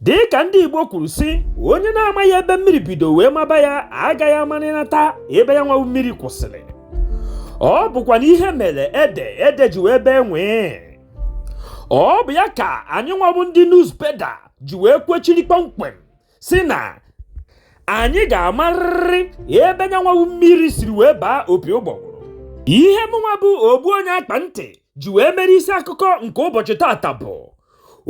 dị ka ndị Igbo kwuru sị onye na-amaghị ebe mmiri bido wee maba ya agaghị amarịnata ebe ya nwabụ mmiri kwụsịrị ọ bụkwanụ ihe mere ede ede ji wee bee nwịị ọ bụ ya ka anyị nwabụ ndị nuzbeda ji wee kwechiri kpọmkwem sị na anyị ga-amarịrị ebe nya nwabụ mmiri siri wee baa opi ụgbọgụrụ ihe mụnwa bụ ogbu onye akpa ntị ji wee mere isi akụkọ nke ụbọchị taata bụ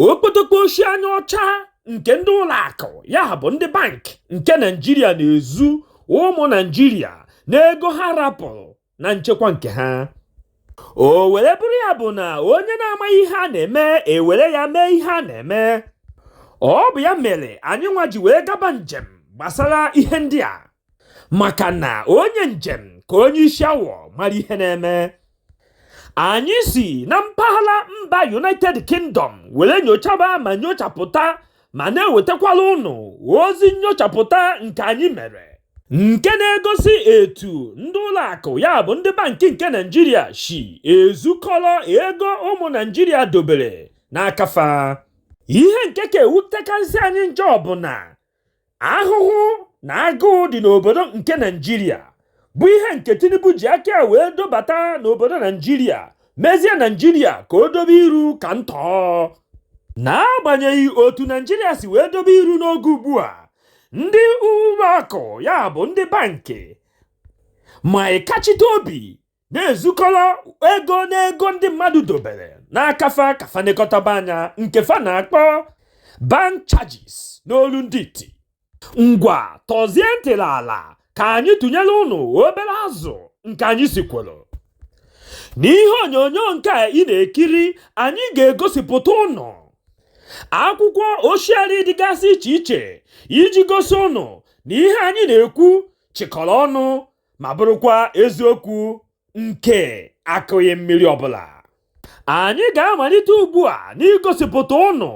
okpotokpo oshi anya ọcha nke ndị ụlọ akụ ya bụ ndị bank nke naijiria na-ezu ụmụ naijiria n'ego ha rapụrụ na nchekwa nke ha o were bụrụ ya bụ na onye na-amaghị ihe a na-eme e were ya mee ihe a na-eme ọ bụ ya mere anyị nwa ji wee gaba njem gbasara ihe ndị a maka na onye njem ka onye isi awọ mara ihe na-eme anyị si na mpaghara mba united kingdom were nyochaba ma nyochapụta ma na-ewetakwara ụnụ ozi nnyochapụta nke anyị mere nke na-egosi etu ndị ụlọ akụ ya bụ ndị bankị nke naijiria si ezukọrọ ego ụmụ naijiria dobere n'aka fa ihe nke ka ewutekarịsị anyị njọ bụ na ahụhụ na agụụ dị n'obodo nke naijiria bụ ihe nke tinubu ji aka ya wee dobata n'obodo naijiria mezie naijiria ka o dobe iru ka ntọ n'agbanyeghị otu naijiria si wee dobe iru n'oge ugbu a ndị ụlọ akụ ya bụ ndị bankị ma ịkachite obi na-ezukọrọ ego n'ego ndị mmadụ dobere n'aka fa ka fa nekọtaba anya nke fa na-akpọ bank charges n'olu ndị iti ngwa tọzie ntị n'ala ka anyị tụnyere ụnụ obere azụ nke anyị sikworo n'ihe onyonyo nke a ị na-ekiri anyị ga-egosipụta ụnụ akwụkwọ oshiari dịgasị iche iche iji gosi ụnụ na ihe anyị na-ekwu chịkọrọ ọnụ ma bụrụkwa eziokwu nke akụghị mmiri ọbụla anyị ga-amalite ugbu a n'igosipụta ụnụ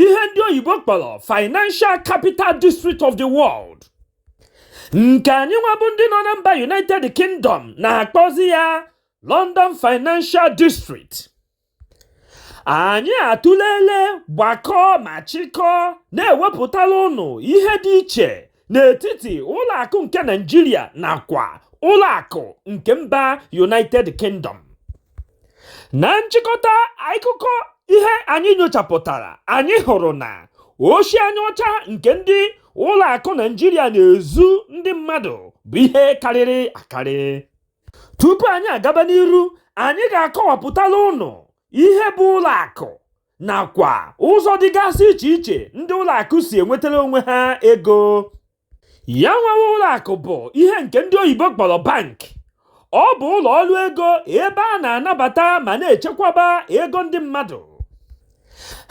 ihe ndị oyibo kpọrọ financial capital district of the world nke anyị nwabụ ndị nọ na mba united kingdom na-akpọzi ya london financial district anyị atụlele gbakọọ ma chịkọọ na-ewepụtara ụnụ ihe dị iche n'etiti ụlọ akụ nke Naịjirịa nakwa ụlọ akụ nke mba United Kingdom na nchịkọta akụkọ ihe anyị nyochapụtara anyị hụrụ na oshi anya ọcha nke ndị ụlọ akụ Naịjirịa na-ezu ndị mmadụ bụ ihe karịrị akarị tupu anyị agaba n'iru anyị ga-akọwapụtala ụnụ ihe bụ ụlọ akụ nakwa ụzọ dịgasị iche iche ndị ụlọ akụ si enwetara onwe ha ego ya nwa bụ ụlọ akụ bụ ihe nke ndị oyibo kpọrọ bank ọ bụ ụlọ ọrụ ego ebe a na-anabata ma na-echekwaba ego ndị mmadụ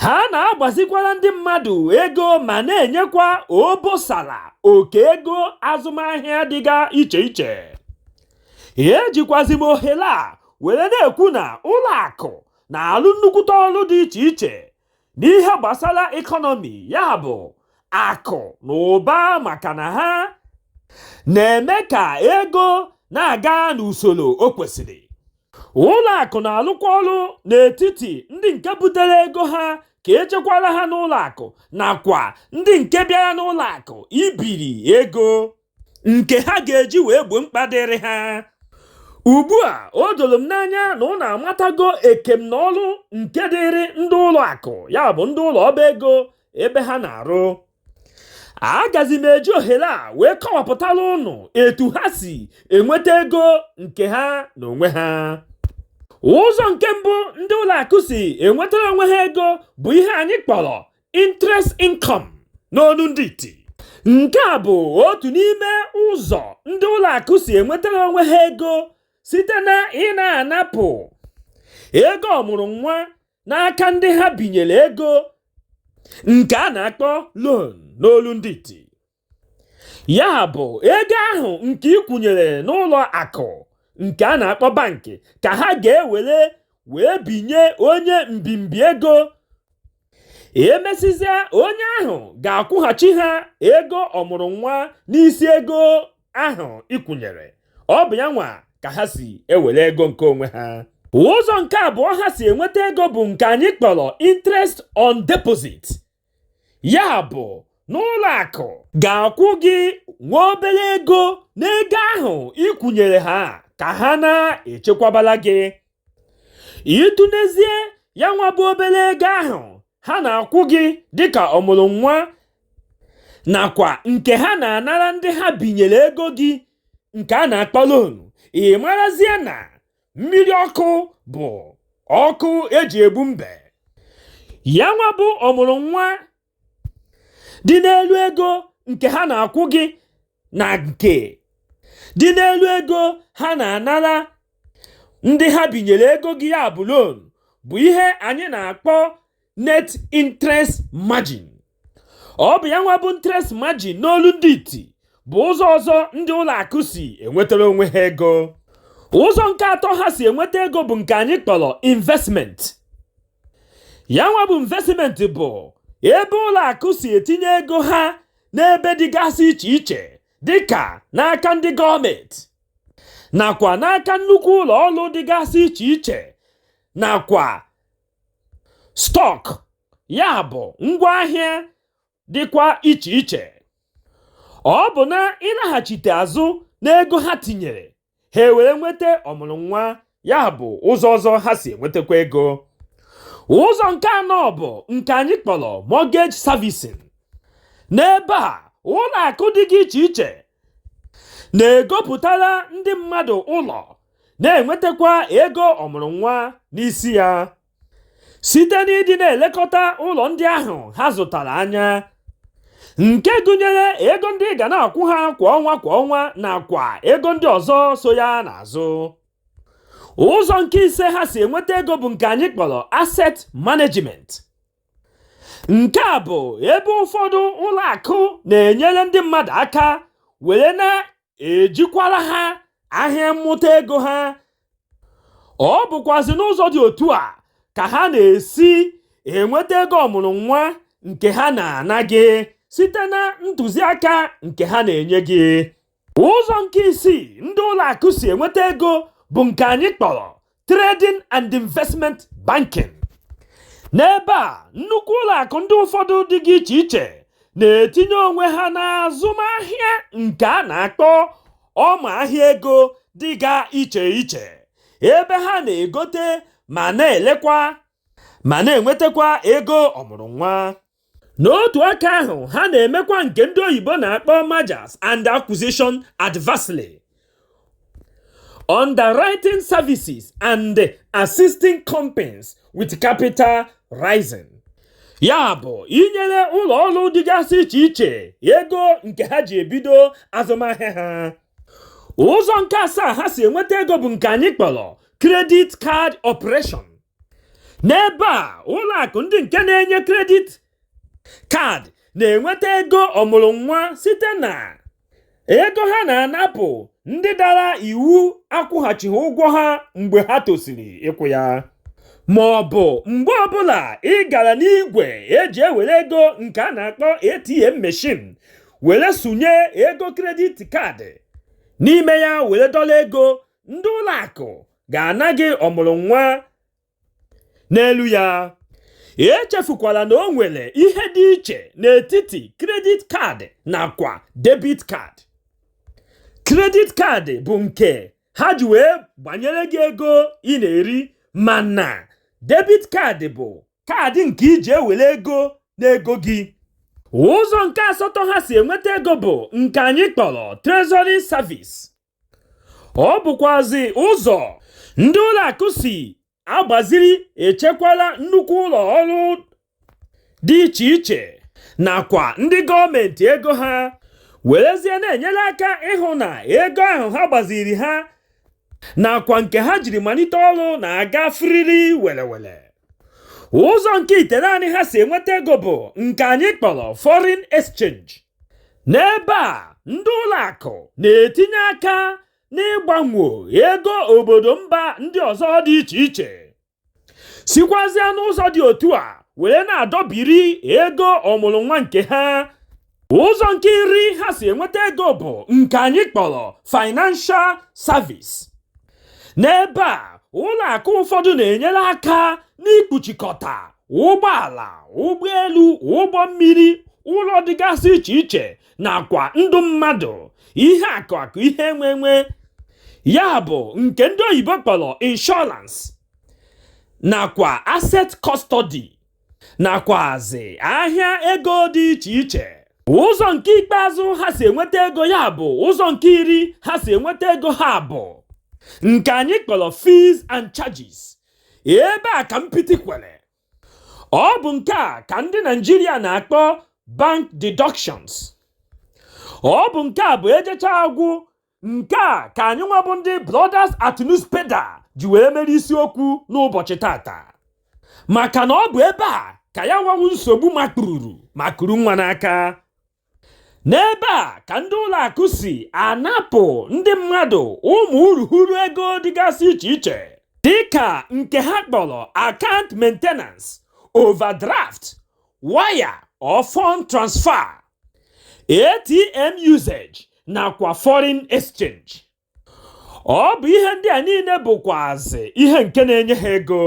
ha na-agbazikwara ndị mmadụ ego ma na-enyekwa obosara oke ego azụmahịa dịga iche iche ejikwazi m ohere a were na-ekwu na ụlọ akụ na-alụ nnukwute ọrụ dị iche iche n'ihe gbasara ekọnọmi ya bụ akụ na ụba maka na ha na-eme ka ego na-aga n'usoro o kwesịrị ụlọ akụ na-alụkwa ọrụ n'etiti ndị nke butere ego ha ka echekwara ha n'ụlọ akụ nakwa ndị nke bịara n'ụlọ akụ ibiri ego nke ha ga-eji wee gboo mkpa dịrị ha ugbu a o doro m n'anya na ụnụ amatago ekem na ọrụ nke dịrị ndị ụlọ akụ ya bụ ndị ụlọ ọba ego ebe ha na-arụ agazi m eji ohere a wee kọwapụtara ụnụ etu ha si enweta ego nke ha n'onwe ha ụzọ nke mbụ ndị ụlọ akụ si enwetara onwe ha ego bụ ihe anyị kpọrọ interest income n'olu ndị iti nke a bụ otu n'ime ụzọ ndị ụlọ akụ si enwetara onwe ha ego site na ịna-anapụ ego ọmụrụ nwa n'aka ndị ha binyere ego nke a na-akpọ loan n'olu ndị iti ya bụ ego ahụ nke ị kwụnyere n'ụlọ akụ nke a na-akpọ bankị ka ha ga-ewere wee binye onye mbimbi ego emesịzịa onye ahụ ga-akwụghachi ha ego ọmụrụ nwa n'isi ego ahụ ị kwụnyere ọ bụ ya nwa ka ha si ewere ego nke onwe ha ụzọ nke abụọ ha si enweta ego bụ nke anyị kpọrọ interest on deposit ya bụ na ụlọ akụ ga-akwụ gị nwa obere ego n'ego ahụ ị kwụnyere ha ka ha na-echekwabara gị ị tụnezie ya nwa bụ obere ego ahụ ha na-akwụ gị dịka ọmụrụ nwa nakwa nke ha na-anara ndị ha binyere ego gị nke a na-akpọ loan ị marazie na mmiri ọkụ bụ ọkụ eji egbu mbe ya nwa bụ ọmụrụ nwa dị n'elu ego nke ha na-akwụ gị na nke dị n'elu ego ha na-anara ndị ha binyere ego gị ya bụ loan bụ ihe anyị na-akpọ net interest margin ọ bụ ya nwa bụ interest margin n'olu ndị iti bụ ụzọ ọzọ ndị ụlọ akụ si enwetara onwe ha ego ụzọ nke atọ ha si enweta ego bụ nke anyị kpọrọ investment ya nwa bụ investment bụ ebe ụlọ akụ si etinye ego ha n'ebe dịgasị iche iche dịka n'aka ndị gọọmenti nakwa n'aka nnukwu ụlọ ọrụ dịgasị iche iche nakwa stọk ya bụ ngwaahịa dịkwa iche iche ọ bụ na ịlaghachite azụ n'ego ha tinyere ha ewere nweta ọmụrụ nwa ya bụ ụzọ ọzọ ha si enwetakwa ego ụzọ nke anọ bụ nke anyị kpọrọ mortgage servicing n'ebe a ụlọ akụ dịga iche iche na-egopụtara ndị mmadụ ụlọ na-enwetakwa ego ọmụrụ nwa n'isi ya site n'ịdị na-elekọta ụlọ ndị ahụ ha zụtara anya nke gụnyere ego ndị ị ga na-akwụ ha kwa ọnwa kwa ọnwa nakwa ego ndị ọzọ so ya n'azụ ụzọ nke ise ha si enweta ego bụ nke anyị kpọrọ asset management nke a bụ ebe ụfọdụ ụlọ akụ na-enyere ndị mmadụ aka were na-ejikwara ha ahịa mmụta ego ha ọ bụkwazị n'ụzọ dị otu a ka ha na-esi enweta ego ọmụrụ nwa nke ha na-ana gị site na ntụziaka nke ha na-enye gị ụzọ nke isii ndị ụlọ akụ si enweta ego bụ nke anyị kpọrọ trading and investment banking n'ebe a nnukwu ụlọ akụ ndị ụfọdụ dịga iche iche na-etinye onwe ha n'azụmahịa nke a na-akpọ ọma ahịa ego dịga iche iche ebe ha na-egote ma na-elekwa ma na-enwetakwa ego ọmụrụ nwa n'otu aka ahụ ha na-emekwa nke ndị oyibo na-akpọ mergers and acquisition advisory underwriting services and assisting companies with capital raising ya bụ inyere ụlọ ọrụ dịgasị iche iche ego nke ha ji ebido azụmahịa ha ụzọ nke asaa ha si enweta ego bụ nke anyị kpọrọ credit card operation n'ebe a ụlọ akụ ndị nke na-enye credit card na-enweta ego ọmụrụ nwa site na ego ha na-anapụ ndị dara iwu akwụghachighị ụgwọ ha mgbe ha tosiri ịkwụ ya ma ọ bụ mgbe ọbụla ị gara n'igwe eji ewere ego nke a na-akpọ ATM machine were sụnye ego credit card n'ime ya were dọla ego ndị ụlọ akụ ga-ana gị ọmụrụ nwa n'elu ya echefukwala na o nwere ihe dị iche n'etiti credit card nakwa debit card credit card bụ nke ha ji wee gbanyere gị ego ị na-eri mana debit card bụ card nke ị ji ewere ego n'ego gị ụzọ nke asatọ ha si enweta ego bụ nke anyị kpọrọ treasury service ọ bụkwazị ụzọ ndị ụlọ akụ si agbaziri echekwala nnukwu ụlọ ọrụ dị iche iche nakwa ndị gọọmenti ego ha werezie na-enyere aka ịhụ na ego ahụ ha gbaziri ha nakwa nke ha jiri malite ọrụ na-aga firiri welewele ụzọ nke itenaanị ha si enweta ego bụ nke anyị kpọrọ foreign exchange n'ebe a ndị ụlọ akụ na-etinye aka n'ịgbanwe ego obodo mba ndị ọzọ dị iche iche sikwazịa n'ụzọ dị otu a were na-adọbiri ego ọmụrụ nwa nke ha ụzọ nke iri ha si enweta ego bụ nke anyị kpọrọ financial service n'ebe a ụlọ akụ ụfọdụ na-enyere aka n'ikpuchikọta ụgbọala ụgbọelu ụgbọ mmiri ụlọ dịgasị iche iche nakwa ndụ mmadụ ihe akụ akụ ihe enwe enwe ya bụ nke ndị oyibo kpọrọ insurance nakwa asset custody nakwazi ahịa ego dị iche iche ụzọ nke ikpeazụ ha si enweta ego ya bụ ụzọ nke iri ha si enweta ego ha bụ nke anyị kpọrọ fees and charges ebe a ka mpịtị kwere ọ bụ nke a ka ndị Naijiria na-akpọ bank deductions ọ bụ nke a bụ ejechaa agwụ nke a ka anyị nwa bụ ndị Brothers at Newspaper ji wee mere isiokwu n'ụbọchị taata maka na ọ bụ ebe a ka ya nwa wụ nsogbu makpururu ma kuru nwa n'aka n'ebe a ka ndị ụlọ akụ si anapụ ndị mmadụ ụmụ urughuru ego dịgasị iche iche dịka nke ha kpọrọ account maintenance overdraft wire or fund transfer ATM usage nakwa foreign exchange ọ bụ ihe ndị a niile bụkwazi ihe nke na-enye ha ego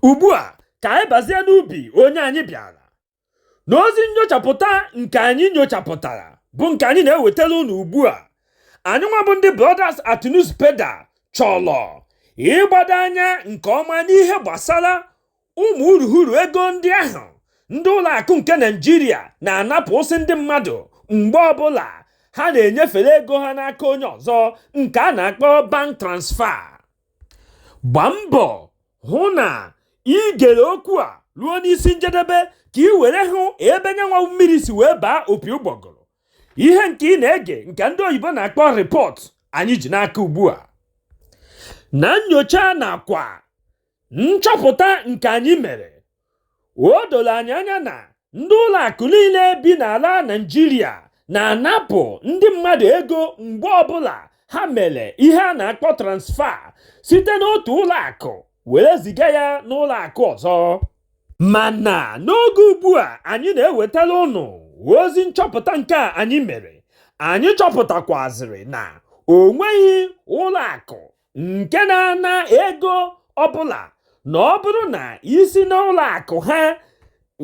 ugbu a ka anyị bazie n'ubi onye anyị bịara n'ozi nnyochapụta nke anyị nyochapụtara bụ nke anyị na-ewetara unu ugbu a anyị nwa bụ ndị Brothers at Newspaper chọrọ ịgbado anya nke ọma n'ihe gbasara ụmụ urughuru ego ndị ahụ ndị ụlọ akụ nke naijiria na-anapụsị ndị mmadụ mgbe ọbụla ha na-enyefere ego ha n'aka onye ọzọ nke a na-akpọ bank transfer gbaa mbọ hụ na ị gere okwu a ruo n'isi njedebe ka ị were hụ ebe nya nwa mmiri si wee baa opi ụgbọgụrụ ihe nke ị na-ege nke ndị oyibo na-akpọ report anyị ji n'aka ugbu a na nnyocha nakwa nchọpụta nke anyị mere o doro anyị anya na ndị ụlọ akụ niile bi n'ala Naịjirịa na-anapụ ndị mmadụ ego mgbe ọbụla ha mere ihe a na-akpọ transfer site n'otu ụlọ akụ were ziga ya n'ụlọ akụ ọzọ mana n'oge ugbu a anyị na-ewetara ụnụ ozi nchọpụta nke a anyị mere anyị chọpụtakwazịrị na o nweghị ụlọ akụ nke na-ana ego ọbụla na ọ bụrụ na i si n'ụlọ akụ ha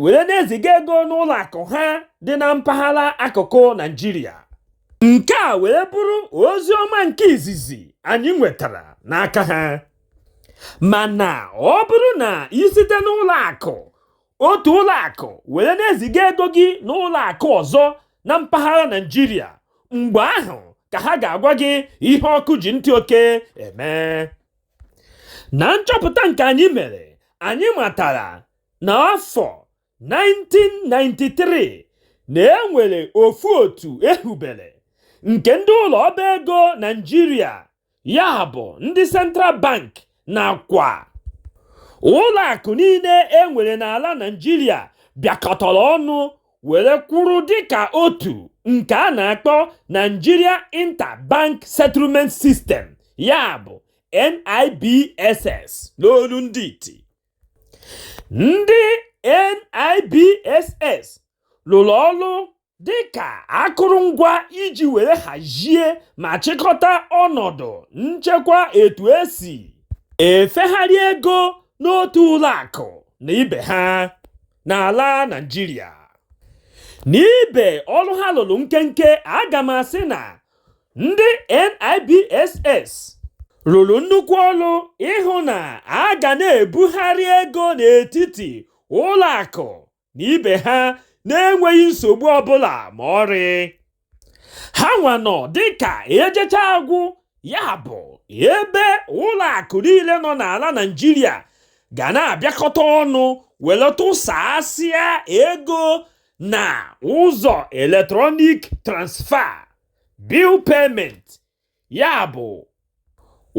were na-eziga ego n'ụlọ akụ ha dị na mpaghara akụkụ Naijiria nke a were bụrụ ozi ọma nke izizi anyị nwetara n'aka ha mana ọ bụrụ na i site n'ụlọ akụ otu ụlọ akụ were na-eziga ego gị n'ụlọ akụ ọzọ na mpaghara Naịjirịa mgbe ahụ ka ha ga-agwa gị ihe ọkụ ji ntị oke eme na nchọpụta nke anyị mere anyị matara n'afọ 1993 na e nwere ofu otu e hubere nke ndị ụlọ ọba ego Naịjirịa ya bụ ndị central bank nakwa ụlọ akụ niile e nwere n'ala naijiria bịakọtara ọnụ were kwụrụ dịka otu nke a na-akpọ nigeria interbank settlement system ya bụ nibss n'olu ndị iti ndị nibss lụrụ ọrụ dị ka akụrụngwa iji were hazie ma chịkọta ọnọdụ nchekwa etu e si efegharị ego n'otu ụlọ akụ na ibe ha n'ala Naịjirịa n'ibe ọrụ ha lụrụ nkenke aga m asị na ndị NIBSS rụrụ nnukwu ọrụ ịhụ na a ga na-ebugharị ego n'etiti ụlọ akụ na ibe ha na-enweghị nsogbu ọbụla ma ọrị ha nwa nọ dịka ejecha agwụ ya bụ ebe ụlọ akụ niile nọ n'ala Naịjirịa ga na-abịakọta ọnụ were tụsasịa ego na ụzọ electronic transfer bill payment ya bụ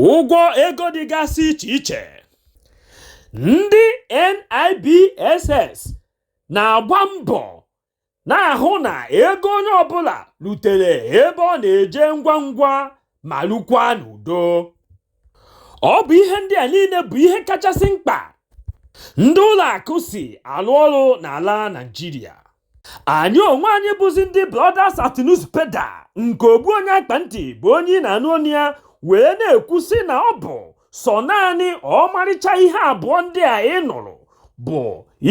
ụgwọ ego dịgasị iche iche ndị NIBSS na-agba mbọ na-ahụ na ego onye ọbụla rutere ebe ọ na-eje ngwa ngwa ma lukwa n'udo ọ bụ ihe ndị a niile bụ ihe kachasị mkpa ndị ụlọ akụ si alụ ọrụ n'ala Naịjirịa anyị onwe anyị bụzi ndị Brothers at Newspaper nke ogbu onye akpa ntị bụ onye ị na-anụ onu ya wee na-ekwu sị na ọ bụ sọ naanị ọmarịcha ihe abụọ ndị a ị nụrụ bụ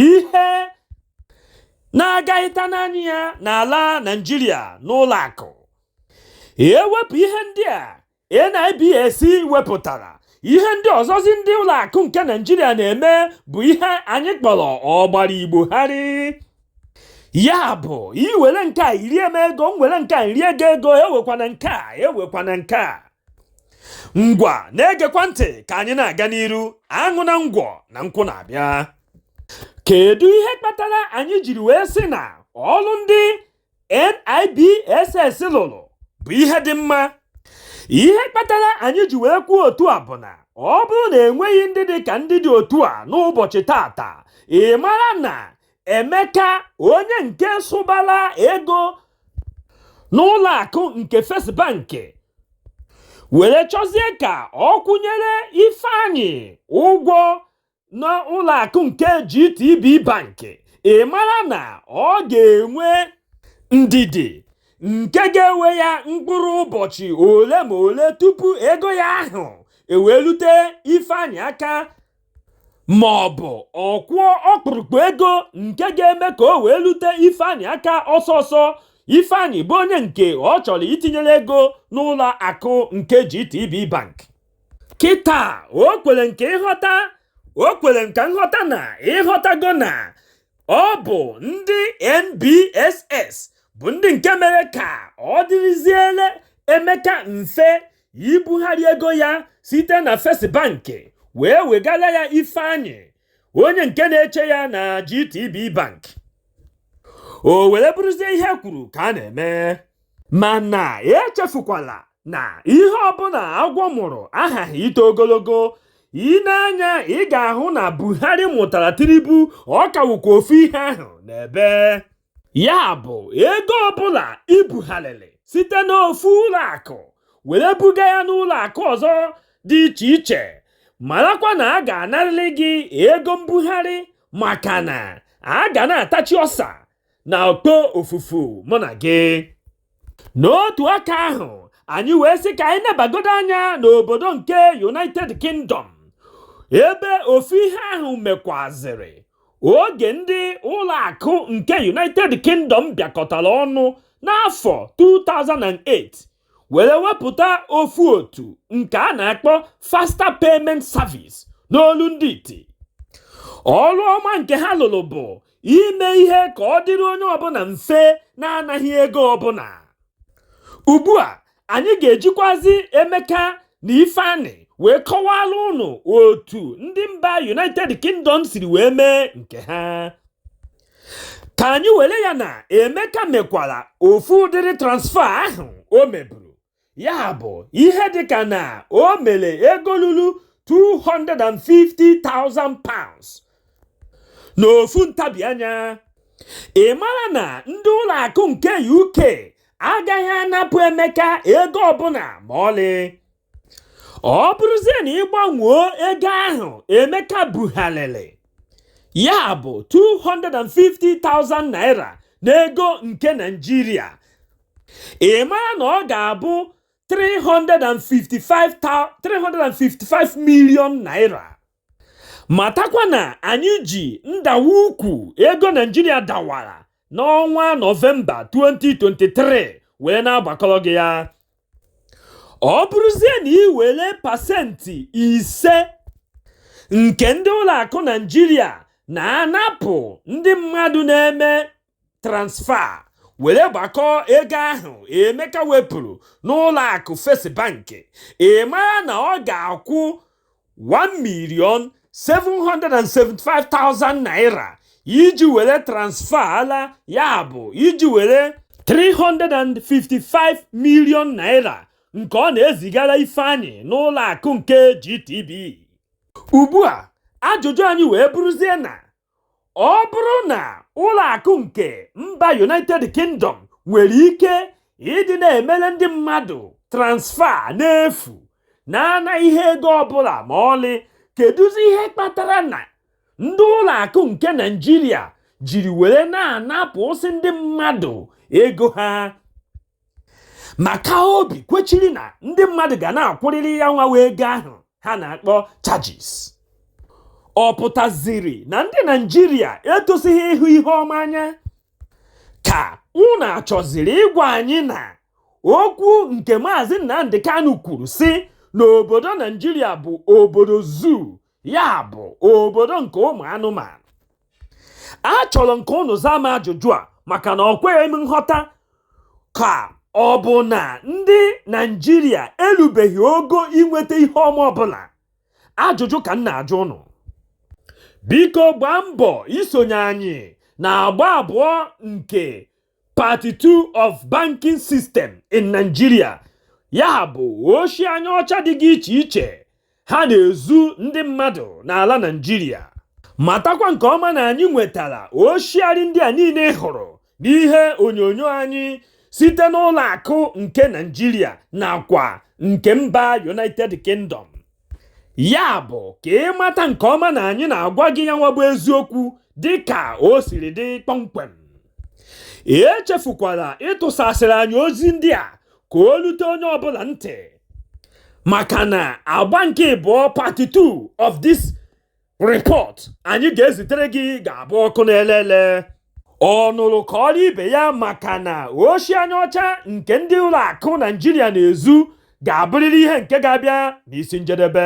ihe na-agaghịta n'anya ya n'ala Naịjirịa n'ụlọ akụ ewepụ ihe ndị a NIBSS wepụtara ihe ndị ọzọzi ndị ụlọ akụ nke Naịjirịa na-eme bụ ihe anyị kpọrọ ọgbara Igbo gharị ya bụ iwere nke a irie m ego m were nke a iri ego ego ewekwana nke a ewekwana nke a ngwa na-egekwa ntị ka anyị na-aga n'iru aṅụna ngwọ na nkwụ na-abịa kedu ihe kpatara anyị jiri wee sị na ọlụ ndị NIBSS lụrụ bụ ihe dị mma ihe kpatara anyị ji wee kwuo otu a bụ na ọ bụrụ na enweghị ndị dị ka ndị dị otu a n'ụbọchị taata ị mara na Emeka onye nke sụbara ego n'ụlọ akụ nke First Bank were chọzie ka ọ kwụnyere Ifeanyị ụgwọ n'ụlọ akụ nke GTB Bank ị mara na ọ ga-enwe ndidi nke ga-ewe ya mkpụrụ ụbọchị ole ma ole tupu ego ya ahụ ewee rute Ifeanyị aka ma ọ bụ ọ kwụọ ọkpụrụkpụ ego nke ga-eme ka o wee rute Ifeanyị aka ọsọ ọsọ Ifeanyị bụ onye nke ọ chọrọ itinyere ego n'ụlọ akụ nke GTB Bank kịta o kwere nke ịghọta o kwere nka nghọta na ịghọtago na ọ bụ ndị NBSS bụ ndị nke mere ka ọ dịrịziere Emeka mfe ibugharị ego ya site na First Bank wee wegara ya Ifeanyị onye nke na-eche ya na GTB Bank o were bụrụzie ihe e kwuru ka a na-eme mana echefukwala na ihe ọbụla agwọ mụrụ aghaghị ito ogologo ị nee anya ị ga-ahụ na buhari mụtara tinubu ọ kawụkwa ofu ihe ahụ n'ebe ya bụ ego ọbụla i bugharịrị site n'ofu ụlọ akụ were buga ya n'ụlọ akụ ọzọ dị iche iche marakwa na a ga-anarịrị gị ego mbugharị maka na a ga na-atachi ọsa na okpofufu mụ na gị n'otu aka ahụ anyị wee sị ka anyị nebagodo anya n'obodo nke united kingdom ebe ofu ihe ahụ mekwazịrị oge ndị ụlọ akụ nke united kingdom bịakọtara ọnụ n'afọ 2008 were wepụta ofu otu nke a na-akpọ faster payment service n'olu ndị iti ọrụ ọma nke ha lụrụ bụ ime ihe ka ọ dịrị onye ọbụla mfe na-anaghị ego ọbụla ugbu a anyị ga-ejikwazi emeka na ifeanyị wee kọwara ụnụ otu ndị mba united kingdom siri wee mee nke ha ka anyị were ya na emeka mekwara ofu ụdịrị transfer ahụ o meburu ya bụ ihe dịka na o mere ego ruru 250,000 pounds n'ofu ntabi anya ị mara na ndị ụlọ akụ nke uk agaghị anapụ emeka ego ọbụla ma ọlị ọ bụrụzie na ị gbanwoo ego ahụ emeka bugharịrị ya bụ 250,000 naira n'ego nke naịjirịa ị mara na ọ ga-abụ 355 million naira matakwa na anyị ji ndawa ukwu ego naịjirịa dawara n'ọnwa nọvemba 2023 wee na-agbakọrọ gị ya ọ bụrụzie na ị were pasentị ise nke ndị ụlọ akụ naịjirịa na-anapụ ndị mmadụ na-eme transfer were gbakọọ ego ahụ emeka wepụrụ n'ụlọ akụ first bank ị mara na ọ ga-akwụ 1 million 775,000 naira iji were transfer ala ya bụ iji were 355 million naira nke ọ na-ezigara ifeanyị n'ụlọ akụ nke GTB ugbu a ajụjụ anyị wee bụrụzie na ọ bụrụ na ụlọ akụ nke mba united kingdom nwere ike ịdị na-emere ndị mmadụ transfer n'efu na-anaghị ego ọbụla ma ọlị kedụzi ihe kpatara na ndị ụlọ akụ nke naịjirịa jiri were na-anapụsị ndị mmadụ ego ha maka obi kwechiri na ndị mmadụ ga na-akwụrịrị ya nwa bụ ego ahụ ha na-akpọ charges ọ pụtaziri na ndị naijiria etosighị ịhụ ihe ọma anya ka unu achọziri ịgwa anyị na okwu nke maazị nnamdi kanu kwuru sị na obodo naijiria bụ obodo zoo ya bụ obodo nke ụmụ anụmanụ achọrọ m ka ụnụ zaa m ajụjụ a maka na ọ kweghị m nghọta ka ọ bụ na ndị naijiria erubeghị ogo inweta ihe ọma ọbụla ajụjụ ka m na-ajụ ụnụ biko gbaa mbọ isonye anyị na agba abụọ nke part 2 of banking system in Nigeria ya bụ oshi anya ọcha dịga iche iche ha na-ezu ndị mmadụ n'ala Naịjirịa matakwa nke ọma na anyị nwetara oshiarị ndị a niile ị hụrụ n'ihe onyonyo anyị site n'ụlọ akụ nke Naịjirịa nakwa nke mba United Kingdom Ya bụ ka ị mata nke ọma na anyị na-agwa gị ya nwa bụ eziokwu dị ka o siri dị kpọmkwem. Echefukwala ịtụsasịrị anyị ozi ndị a ka o lute onye ọbụla ntị maka na agba nke ịbụọ part 2 of this report anyị ga-ezitere gị ga-abụ ọkụ na-ele ele ọ nụrụ kọọrọ ibe ya maka na oshi anya ọcha nke ndị ụlọ akụ naijiria na-ezu ga-abụrịrị ihe nke ga-abịa n'isi njedebe